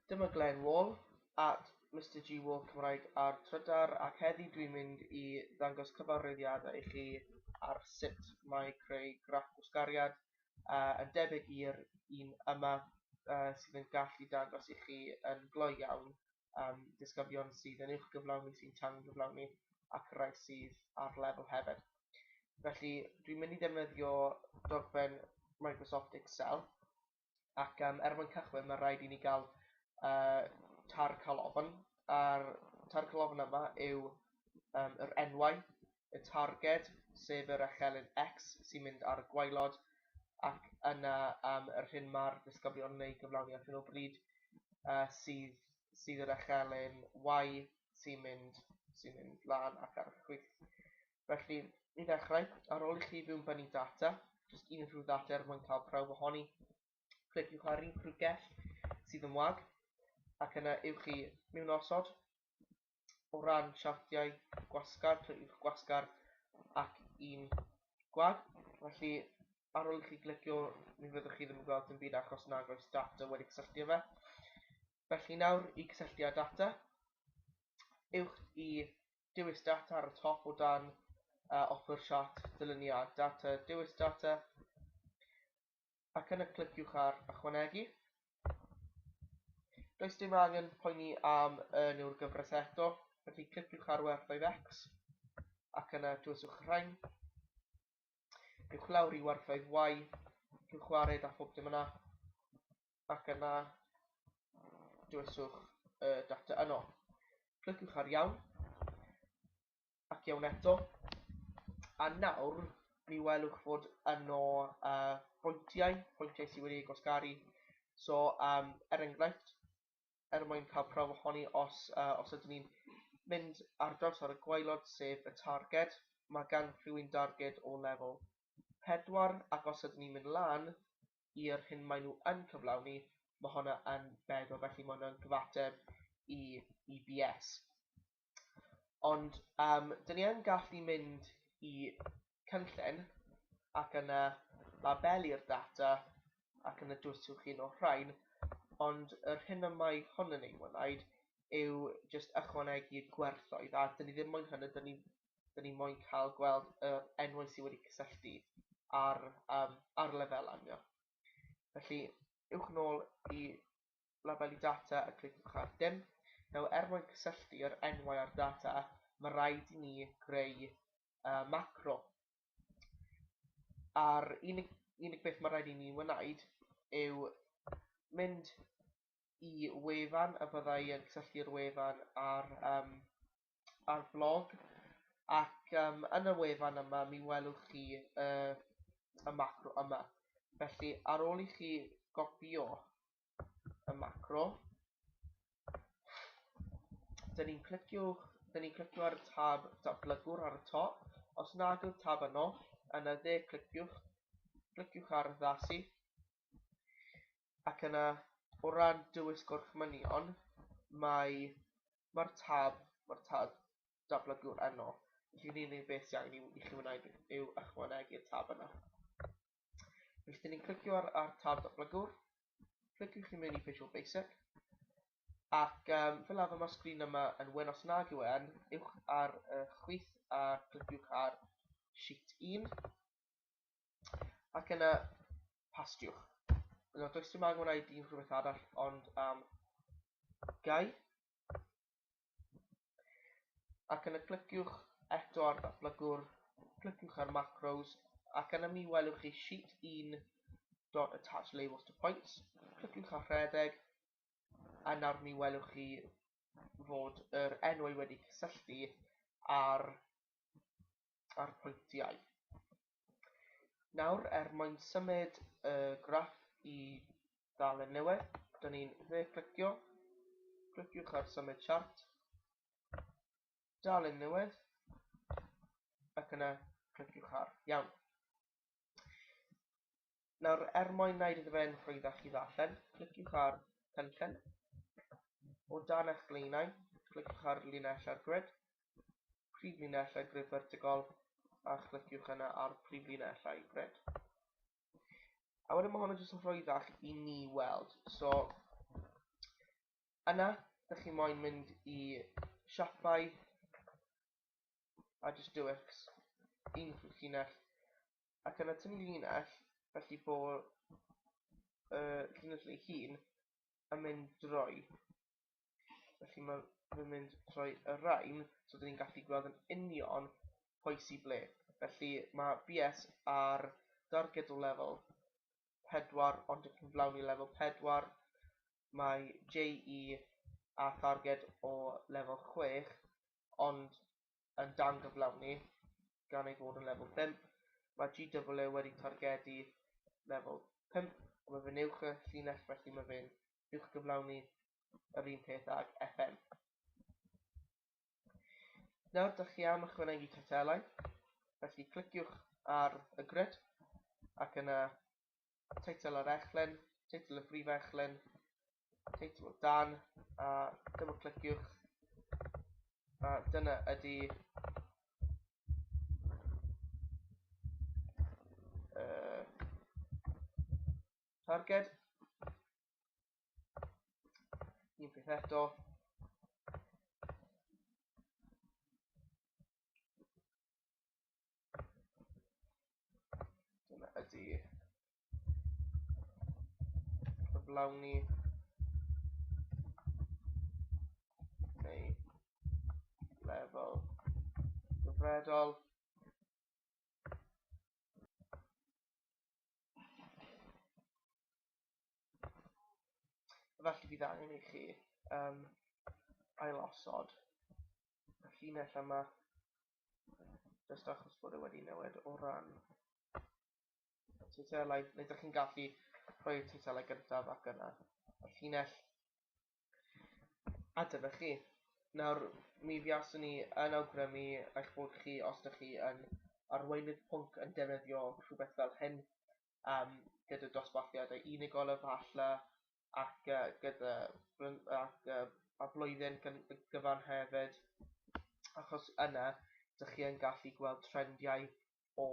Dyma Glen Wall at Mister G Wall Cymraeg ar Trydar ac heddi dwi'n mynd i ddangos cyfarwyddiadau i chi ar sut mae creu graff gwsgariad uh, yn debyg i'r un yma uh, sydd yn gallu dangos i chi yn gloi iawn um, disgyblion sydd yn uwch gyflawni sy'n tangyflawni ac rai sydd ar lefel hefyd. Felly dwi'n mynd i ddefnyddio dogfen Microsoft Excel ac yym er mwyn cychwyn mae'n rhaid i ni gael uh, tar calofn, a'r tar calofn yma yw um, yr enwau, y targed, sef yr echelin X sy'n mynd ar y gwaelod, ac yna um, yr hyn mae'r disgyblion yn ei gyflawni ar hyn o bryd uh, sydd, sydd yr echelin Y sy'n mynd, sy mynd lan ac ar y chwith. Felly, i ddechrau, ar ôl i chi fywbynnu data, jyst unrhyw ddata er mwyn cael prawf ohoni, cliciwch ar unrhyw gell sydd yn wag, ac yna ewch chi mewn osod. O ran siartiau gwasgar, cliciwch gwasgar ac un gwag. Felly, ar ôl i chi glicio, mi fyddwch chi ddim yn gweld yn byd achos nag oes data wedi cysylltu â fe. Felly nawr, i gysylltu â data, ewch i dewis data ar y top o dan a offer siart dyluniad data, dewis data ac yna cliciwch ar ychwanegu. Does dim angen poeni am y newr gyfres eto, felly cliciwch ar werthoedd x ac yna dewisiwch rhain. Ewch lawr i werthoedd y, rhywch wared a phob dim yna. ac yna dywyswch y data yno. Cliciwch ar iawn ac iawn eto a nawr mi welwch fod yno uh, pwyntiau, pwyntiau sydd wedi gosgaru. So, um, er enghraifft, er mwyn cael prawf ohoni os, uh, os ydyn ni'n mynd ar draws ar y gwaelod sef y targed, mae gan rhywun darged o lefel 4 ac os ydyn ni'n mynd lan i'r hyn maen nhw yn cyflawni, mae honna yn beglo, felly mae hwnna'n gyfateb i, i BS. Ond um, dyn ni yn gallu mynd i cynllun ac yna labelu'r data ac yna dwyswch chi o'r rhain, ond yr hyn y mae hwn yn ei wneud yw jyst ychwanegu gwerthoedd a dyn ni ddim moyn hynny, dyn ni 'da ni moyn cael gweld y enwau sydd wedi cysylltu ar, um, ar lefelau yma. Felly, ywch yn ôl i labelu data a cliciwch ar dim. Nawr, er mwyn cysylltu yr enwau a'r data, mae rhaid i ni greu uh, macro. A'r unig, unig beth mae rhaid i ni wneud yw mynd i wefan y byddai yn cysylltu'r wefan ar um, ar flog ac yym yn y wefan yma mi welwch chi y y macro yma. Felly ar ôl i chi gopio y macro dyn ni'n clicio dyn ni'n clicio ar y tab datblygwr ar y top os nad yw'r tab yno yn y dde cliciwch cliciwch ar addasu ac yna o ran dywys gorchmynion mae mae'r tab mae'r tab dablygu'r enw felly yn unig beth sy'n angen i, i chi wneud yw ychwanegu'r tab yna felly dyn ni'n clicio ar, ar tab dablygwr cliciwch chi mewn i Visual Basic ac um, fel arfer mae'r sgrin yma yn wen os nag yw e'n ywch ar y chwith a cliciwch ar sheet 1 Ac yna, pastiwch. Yna, does dim angen gwneud un rhywbeth arall, ond am um, gau. Ac yna, cliciwch eto ar ddatblygwr, cliciwch ar macros, ac yna mi welwch chi sheet 1 dot attach labels to points. Cliciwch ar rhedeg, a nawr mi welwch chi fod yr enwau wedi cysylltu ar a'r pwyntiau. Nawr, er mwyn symud y graff i ddalen newydd, dyn ni'n dde-clicio, cliciwch ar Symud Siart, Dalen Newydd, ac yna cliciwch ar Iawn. Nawr, er mwyn wneud iddo fe yn rhwyddach i ddarllen, cliciwch ar Cynllun. O dan eich blaenau, cliciwch ar Linellau Grid, Prif Linellau Grid Fertigol, a chlickiwch yna ar Prif Linellau Grid. A wedyn mae hwn yn jyst yn rhwyddach i ni weld. So, yna, ydych chi moyn mynd i siapau a jyst dewch un llinell ac yn y tun linell felly bo y llinell ei hun yn mynd drwy felly mae fe'n mynd trwy y rhain so dyn ni'n gallu gweld yn union pwy sy'n ble felly mae BS ar darged o lefel 4 ond yn cyflawni lefel 4 mae JE a tharged o lefel 6 ond yn dangyflawni gan ei fod yn lefel pump, mae GWO wedi targedu lefel pump, ond mae fe'n uwch y llinell felly mae fe'n uwchgyflawni yr un peth ag FM. Nawr dych chi am ychwanegu cartelau, felly cliciwch ar y grid ac yna teitl ar echlen, teitl y brif echlen, teitl o dan a dyma cliciwch a dyna ydy uh, targed un peth eto Dyna ydi cyflawni neu lefel gyfredol. Felly bydd angen i chi um, ailosod y llinell yma just achos bod e wedi newid o ran y teithelau neu ydych chi'n gallu rhoi'r teithelau gyntaf ac yna y llinell a dyna chi nawr mi fiaswn ni yn awgrymu eich bod chi os ydych chi yn arweinydd pwnc yn defnyddio rhywbeth fel hyn um, gyda dosbarthiadau unigol efallai ac gyda ac yy a blwyddyn gyfan hefyd achos yna dych chi yn gallu gweld trendiau o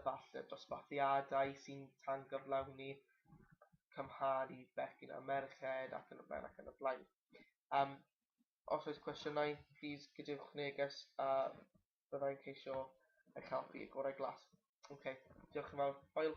efallai dosbarthiadau sy'n tangyflawni cymharu bechgyn a merched ac yn y blaen ac yn y blaen. Um, os oes cwestiynau, plîs gadewch neges a byddai'n ceisio eich helpu y gorau glas. OK, diolch yn fawr. Hwyl!